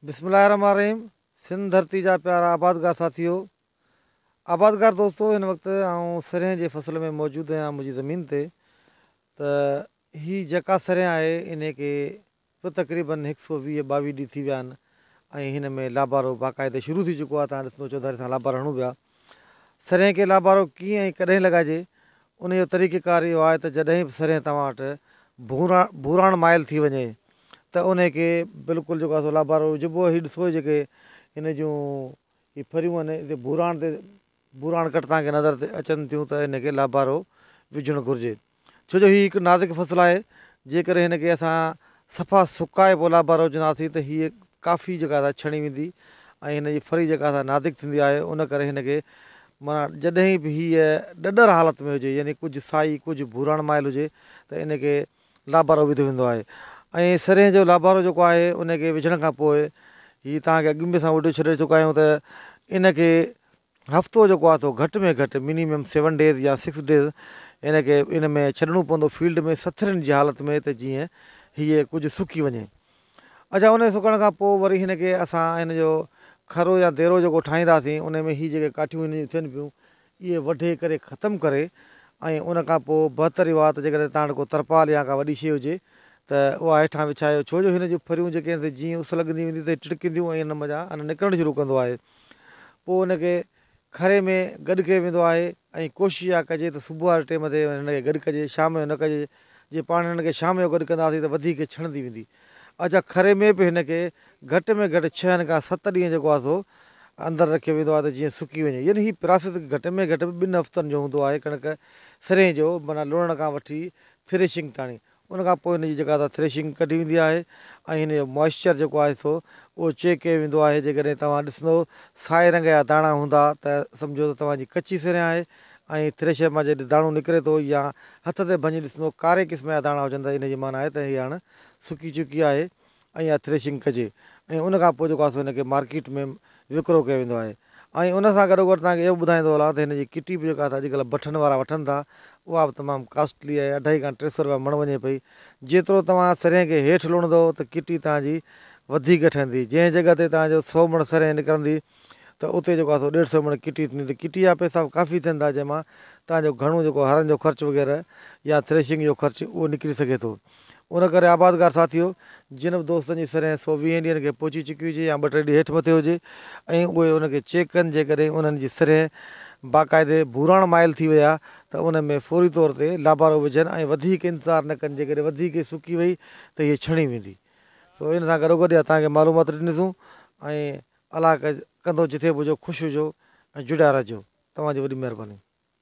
بسم الله الرحمن الرحيم سنڌ ڌرتي جا پيارا آبادگار ساٿيو آبادگار دوستو هن وقت آئون سرهين جي فصل ۾ موجود آهيان منهنجي زمين تي ته هي جيڪا سرهين آهي ان کي به تقريبن هڪ سو ويهه ٻاويهه ڏينهن ٿي ويا آهن ۽ هن ۾ لابارو باقاعده شروع ٿي چڪو آهي تان ڏسندو چوڌاري سان لابار هڻون پيا سرهين کي لابارو ڪيئن ۽ ڪڏهن لڳائجي، ان جو طريقه ڪار اهو آهي ته جڏهن به سرهين توهان وٽ ڀوراڻ مائل ٿي وڃي ته انهي کي بلڪل جيڪو آهي سو لابارو وجهبو هي ڏسبو جيڪي هن جون هي ڦريون آهن هتي ڀوراڻ تي ڀوراڻ گهٽ توهان کي نظر تي اچن ٿيون ته هن کي لابارو وجهڻ گهرجي ڇو جو هي هڪ نازڪ فصل آهي، جيڪڏهن هن کي اسان صفا سڪائي پوء لابارو وجهنداسين ته هيء ڪافي جيڪا سا ڇڻي ويندي ۽ هن جي ڦري جيڪا سا نازڪ ٿيندي آهي ان ڪري هن کي معنيٰ جڏهن به هيء ڏڏر حالت ۾ هجي يعني ڪجهه سائي ڪجهه ڀوراڻ مائل هجي ته ان کي لابارو وڌو ويندو آهي ۽ سرهين جو لابارو جيڪو آهي ان کي وجهڻ کان پوء هي توهان کي اڳ ۾ به اسان وڊيو ڇڏي چڪا آهيون ته ان کي هفتو جيڪو آهي سو گهٽ ۾ گهٽ Minimum سيون ڊيز يا سڪس ڊيز ان کي ان ۾ ڇڏڻو پوندو فيلڊ ۾ سٿرين جي حالت ۾ ته جيئن هيء ڪجهه سڪي وڃي. اڇا ان سڪڻ کان پوء وري هن کي اسان هن جو کرو يا ديرو جيڪو ٺاهينداسين ان ۾ هي جيڪي ڪاٺيون هن جون ٿين پيون اهي وڍي ڪري ختم ڪري ۽ ان کان پوء بهتر اهو آهي ته جيڪڏهن تان وٽ ڪو ترپال يا ڪا وڏي شيء هجي ته اها هيٺان وڇايو ڇو جو هن جون ڦريون جيڪي آهن سي جيئن اس لڳندي ويندي ته هي ٽڙڪينديون ۽ ان مان جا ان نڪرڻ شروع ڪندو آهي. پوء ان کي کري ۾ گڏ ڪيو ويندو آهي ۽ ڪوشش اها ڪجي ته صبح واري ٽيم تي هن کي گڏ ڪجي شام جو نه ڪجي جي پاڻ هن کي شام جو گڏ ڪنداسين ته وڌيڪ ڇڻندي ويندي اچا کري ۾ به هن کي گهٽ ۾ گهٽ ڇهن کان ست ڏينهن جيڪو آهي سو اندر رکيو ويندو آهي ته جيئن سڪي وڃي يعني هي پراسيس گهٽ ۾ گهٽ ٻن هفتن جو هوندو آهي ڪڻڪ سرين جو معنيٰ لوڻڻ کان وٺي ٿريشنگ تاڻي ان کان پوء هن جي جيڪا سا ٿريشنگ ڪڍي ويندي آهي ۽ هن جو موئسچر جيڪو آهي سو اهو چيڪ ڪيو ويندو آهي جيڪڏهن توهان ڏسندو سائي رنگ جا داڻا هوندا ته سمجهو ته توهان جي ڪچي سرهين آهي ۽ ٿريشر مان جڏهن داڻو نڪري ٿو يا هٿ تي ڀڃي ڏسندو ڪاري قسم جا داڻا هجن ته ان جي معنيٰ آهي ته هي هاڻ سڪي چڪي آهي ۽ يا ٿريشنگ ڪجي ۽ ان کان پوء جيڪو آهي سو هن کي مارڪيٽ ۾ وڪرو ڪيو ويندو آهي ۽ ان سان گڏوگڏ توهان کي اهو به ٻڌائيندو هلان ته هن جي ڪٽي به جيڪا اڄڪلهه بٺن وارا وٺن ٿا اها به تمام ڪاسٽلي آهي اڍائي کان ٽي سؤ رپيا مڻ وڃي پئي جيترو توهان سرهين کي هيٺ لوڻندو ته ڪٽي توهان جي وڌيڪ ٺهندي جنهن جڳهه تي توهان جو سؤ مڻ سرهين نڪرندي ته اتي جيڪو آهي سو ڏيڍ سؤ مڻ ڪٽي ٿيندي ته ڪٽي جا پئسا به ڪافي ٿين ٿا جنهن مان توهان جو گهڻو جيڪو هرن جو خرچ وغيره يا ٿريشنگ جو خرچ اهو نڪري سگهي ٿو ان ڪري آبادگار ساٿيو جن به دوستن جي سرين سو ويهن ڏينهن کي پهچي چڪي هجي يا ٻه ٽي ڏينهن هيٺ مٿي هجي ۽ اهي ان کي چيڪ ڪن جيڪڏهن انهن جي سرين باقاعدي ڀوراڻ مائل ٿي ويا ته ان ۾ فوري طور تي لابارو وجهن ۽ وڌيڪ انتظار نه ڪن جيڪڏهن وڌيڪ سڪي وئي ته هيء ڇڻي ويندي سو ان سان گڏوگڏ اها توهان کي معلومات ڏنيسون ۽ الله ڪندو جتي به هجو خوش هجو ۽ جڙيا رهجو توهان جي وڏي مهرباني.